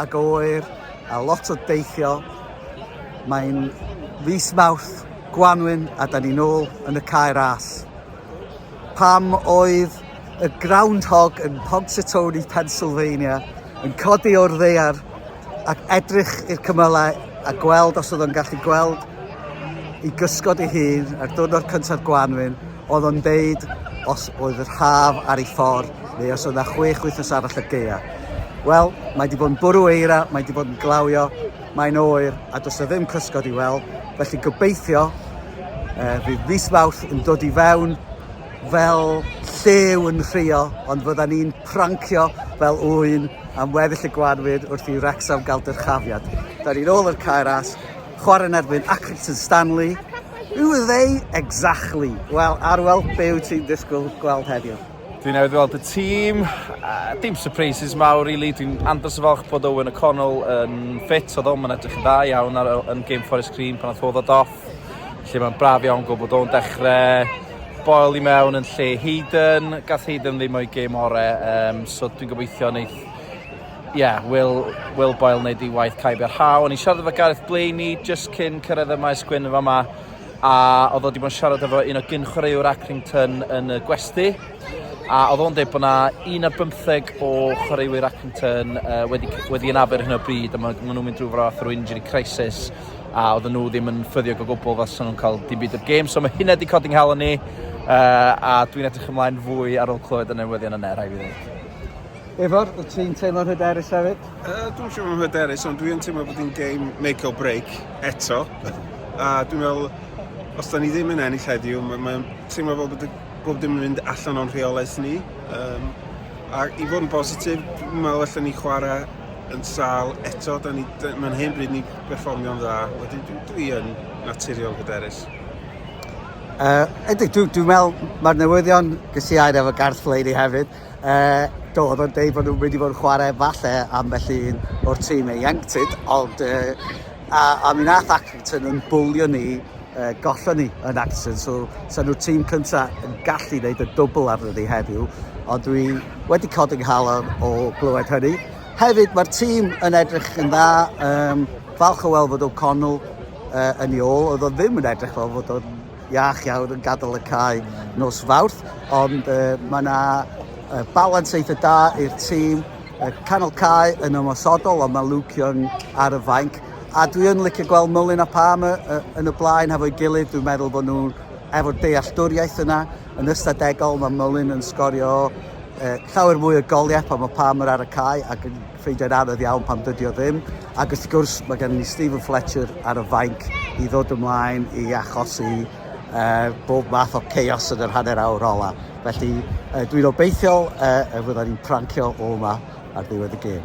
Ac oer a lot o deithio. Mae'n fis Mawrth, Gwanwyn a da ni'n ôl yn y cae ras. Pam oedd y groundhog yn Ponsetoni, Pennsylvania yn codi o'r ddeiar ac edrych i'r cymylau a gweld os oedd o'n gallu gweld i gysgod ei hun ar diwrnod cyntaf Gwanwyn Oedd o'n deud os oedd yr haf ar ei ffordd neu os oedd yna chwech wythnos arall y gaea. Wel, mae wedi bod yn bwrw eira, mae wedi bod yn glawio, mae'n oer a does o ddim cysgod i weld, felly gobeithio uh, fydd mis Mawrth yn dod i fewn fel llew yn rhio, ond fydda ni'n prancio fel ŵyn am weddill y gwanwyd wrth i Wrexham gael dyrchafiad. Da ni'n ôl yr caer as, Chwarae yn erbyn Accrington Stanley. Who are they exactly? Wel, Arwel, be wyt ti'n disgwyl gweld heddiw? Dwi'n newydd weld y tîm, uh, dim surprises mawr i really. Dwi'n andros o falch bod Owen O'Connell yn ffit, oedd o'n edrych yn dda iawn ar, yn Game Forest Green pan oedd oedd off. Lle mae'n braf iawn gwybod bod o'n dechrau boel i mewn yn lle Hayden. Gath Hayden ddim o'i gêm orau, um, so dwi'n gobeithio wneud Ie, Wil, Wil Boyle wneud ei waith caib i'r haw. O'n i'n siarad efo Gareth Blaney jyst cyn cyrraedd y maes gwyn yn fama, a oedd o wedi bod yn siarad efo un o gyn-chwaraewr Accrington yn y gwesti, a oedd o'n dweud bod yna un ar bymtheg o chwaraewyr Accrington uh, wedi, wedi ynafer hyn o bryd, a maen nhw'n mynd drwy fath o'r injury crisis, a oedden nhw ddim yn ffyddiog o gwbl fas nhw'n cael dim byd o'r gêm, so mae hynna wedi codi'n hel ni, uh, a dwi'n edrych ymlaen fwy ar ôl clywed y newyddion yna, rhaid fi ddweud. Ifor, wyt ti'n teimlo'n hyderus hefyd? Uh, dwi'n siŵr yn hyderus, ond dwi'n teimlo bod hi'n game make or break eto. A dwi'n meddwl, os da ni ddim yn ennill heddiw, mae'n ma teimlo fel bod bob dim yn mynd allan o'n rheolaeth ni. Um, a i fod yn bositif, dwi'n meddwl allan ni chwarae yn sal eto. Da ni, da, mae'n hen bryd ni berfformio'n dda. Wedyn dwi, dwi yn naturiol hyderus. Uh, Edig, dwi'n dwi meddwl mae'r newyddion gysiair efo Garth Flaney hefyd. Uh, do, oedd o'n deud bod nhw'n mynd i fod yn chwarae falle ambell un o'r tîm ei ieuenctid, ond uh, a, a mi nath Accrington yn bwlio ni, uh, gollon ni yn Accrington, so sa nhw'r tîm cyntaf yn gallu gwneud y dwbl arno ni heddiw, ond dwi wedi codi nghalon o glywed hynny. Hefyd, mae'r tîm yn edrych yn dda, um, falch o weld fod O'Connell uh, yn ei ôl, oedd o ddim yn edrych fel fod o'n iach iawn yn gadael y cae nos Fawrth, ond uh, mae yna uh, balans eitha da i'r tîm. Uh, canol cae yn ymosodol, ond mae Luke Young ar y fainc. A dwi yn licio gweld Mullin a Palm uh, yn y blaen hefo'i gilydd. Dwi'n meddwl bod nhw efo'r dealltwriaeth yna. Yn ystadegol mae Mullin yn sgorio uh, llawer mwy o goliau pan mae Palmer ar y cae ac yn ffeindiau'n anodd iawn pam dydy o ddim. Ac wrth gwrs, mae gennym ni Stephen Fletcher ar y fainc i ddod ymlaen i achosi uh, bob math o chaos yn yr hanner awr ola. Felly, uh, dwi'n obeithiol uh, y fyddan ni'n prancio o yma ar ddiwedd y gêm.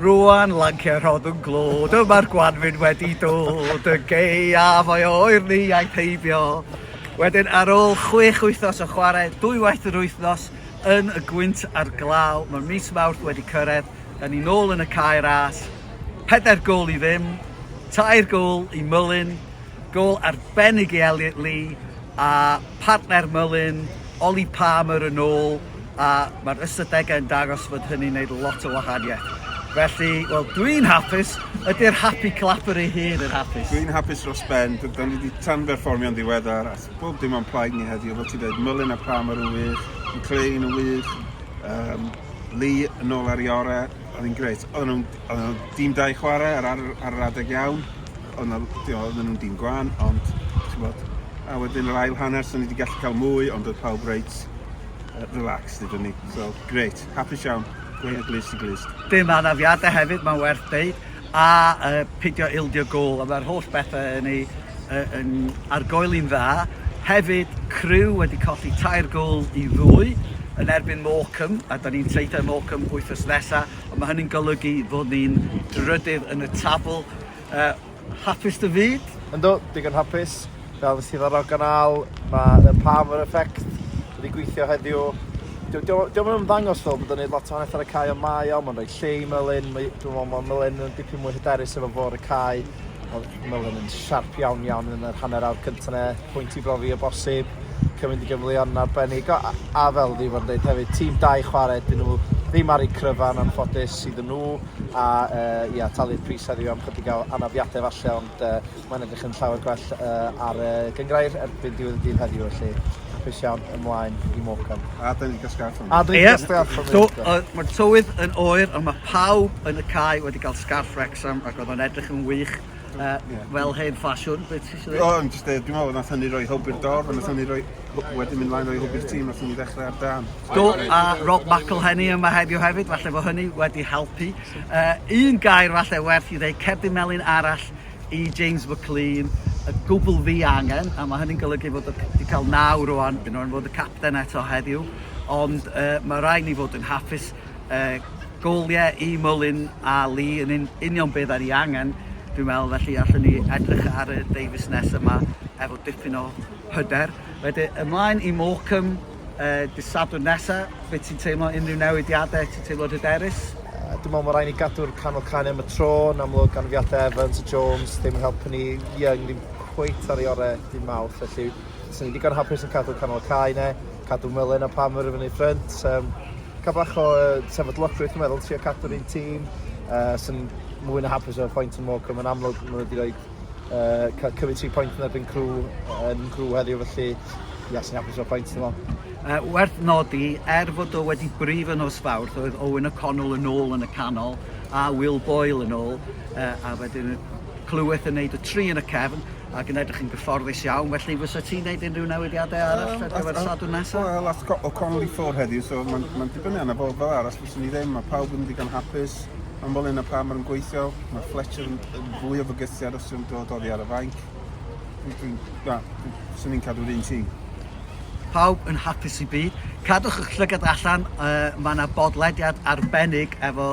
Rwan lanciau rhoddwn glod, yma'r gwanfyn wedi dod, y geiaf o'i oer ni a'i peibio. Wedyn ar ôl chwech wythnos o chwarae dwy waith yr wythnos yn y gwynt ar glaw, mae mis Mawrth wedi cyrraedd, yn ni'n ôl yn y cae ras, pedair gol i ddim, tair gol i Mullen, Gol arbennig i Elliot Lee a phartner Mullin, Ollie Palmer yn ôl a mae'r ystadegau yn dangos fod hynny'n neud lot o wahaniaeth. Felly, wel, dwi'n hapus. Ydy'r happy clapper ei hun yn hapus? Dwi'n hapus dros ben. Da ni wedi tanberfformio'n ddiweddar a bob dim o'n plaid ni heddiw. Fel ti'n dweud, Mullin a Palmer yn wych, McLean yn wych, um, Lee yn ôl ar ei orau. Oedd hi'n greit. Oedd nhw'n dîm da i chwarae ar, ar, ar yr adeg iawn. O' 'na l- ti'o' odden nw'n dyn gwan ond t'mod a wedyn yr ail hanner so ni 'di gallu ca'l mwy ond odd pawb reit yy relaxed iddo ni so grêt hapus iawn gwên o glust i glust. Dim anafiade hefyd ma'n werth deud a yy pidio ildio gôl a ma'r holl bethe yn ei yy yn ar goel un dda. Hefyd Crewe wedi colli tair gôl i ddwy yn erbyn Morecambe a 'dan ni'n traethu â Morecambe wythnos nesa on' ma' hynny'n golygu fod ni'n drydydd yn y tabl. Yy, hapus dy fyd? Yndw, digon hapus. Fel nes ti ddarogan Al, mae The Palmer Effect wedi gweithio heddiw. Dio, dio, dio yn ymddangos fel bod yn gwneud lot o wahaniaeth ar y cae, ond mae o, mae'n rhoi lle i Merlin, mae, dwi'n meddwl mae Merlin yn dipyn mwy hyderus efo fo ar y cae, mae Merlin yn siarp iawn iawn yn yr hanner awr cyntaf ne, pwynt i brofi o bosib, cymryd i gyfleon yn arbennig, a, a fel fi fod yn dweud hefyd, tîm dau chwarae, dyn nhw ddim ar eu cryfan anffodus iddyn nhw, a yy ia talu'r pris heddiw am chydig o anafiade falle ond yy mae'n edrych yn llawer gwell yy ar y gyngrair erbyn diwedd y dydd heddiw felly hapus iawn ymlaen i Morecambe. A dyn ni'n casglu arfon. A dyn ni'n casglu arfon. So, uh, mae'r tywydd yn oer ond mae pawb yn y cae wedi cael scarff Wrexham ac oedd o'n edrych yn wych. Yy fel hen ffasiwn be' ti isio ddeud? O o'n jyst deud dwi me'wl nath hynny roi hwb i'r dorf a nath hynny roi hw- wedyn mynd mlaen roi hwb i'r tîm nathon ni ddechre ar dân. Do a Rob McElhenney yma heddiw hefyd falle bo hynny wedi helpu. Yy un gair falle werth 'i ddeu cerdyn melyn arall i James McClean y gwbwl fi angen a ma' hynny'n golygu fod o c- 'di ca'l naw rŵan un o fod y capten eto heddiw ond yy ma' rai' ni fod yn hapus Yy, gwl ie i Mullin a Lee yn un- union be' 'dan ni angen dwi'n meddwl felly allwn ni edrych ar y Davies nesa 'ma efo dipyn o hyder. Wedyn ymlaen i Morecambe yy dy' Sadwrn nesa, be' ti'n teimlo, unrhyw newidiade, ti'n teimlo'n hyderus? Yy dwi me'wl ma' rai' ni gadw'r canol canu am y tro, yn amlwg anafiadau Evans a Jones ddim yn helpu ni, Young ddim cweit ar ei ore' dy' Mawrth felly 'swn i'n digon hapus yn cadw canol y cae 'ne, cadw Mullin a Palmer i fyny ffrynt yym. Cael bach o uh, sefydlogrwydd, dwi'n meddwl, trio cadw'r un tîm uh, sy'n mwy na hapus o'r pwynt yn Morecambe. Mae'n amlwg maen nhw wedi rhoi uh, cymryd tri pwynt yn erbyn crw, yn crw heddiw, felly ia, sy'n hapus o'r pwynt yn ôl. Uh, werth nodi, er fod o wedi brif yn os fawr, oedd Owen O'Connell yn ôl yn y canol, a Will Boyle yn ôl, uh, a wedyn clyweth yn neud y tri yn y cefn, Ac yn edrych yn gyfforddus iawn, felly fysa ti'n gwneud unrhyw newidiadau arall ar gyfer y Sadwrn nesaf? Wel, ath O'Connell i ffwrdd heddiw, so mae'n ma dibynnu arno fo, fel arall fyswn ni ddim, mae pawb yn ddigon hapus, mae'n fel yna pam mae'n gweithio, mae Fletcher yn, yn fwy o fygythiad os yw'n dod oddi ar y fainc. Dwi'n, fyswn ni'n cadw'r un tîm pawb yn hapus i byd. Cadwch eich llygad allan, uh, mae yna bodlediad arbennig efo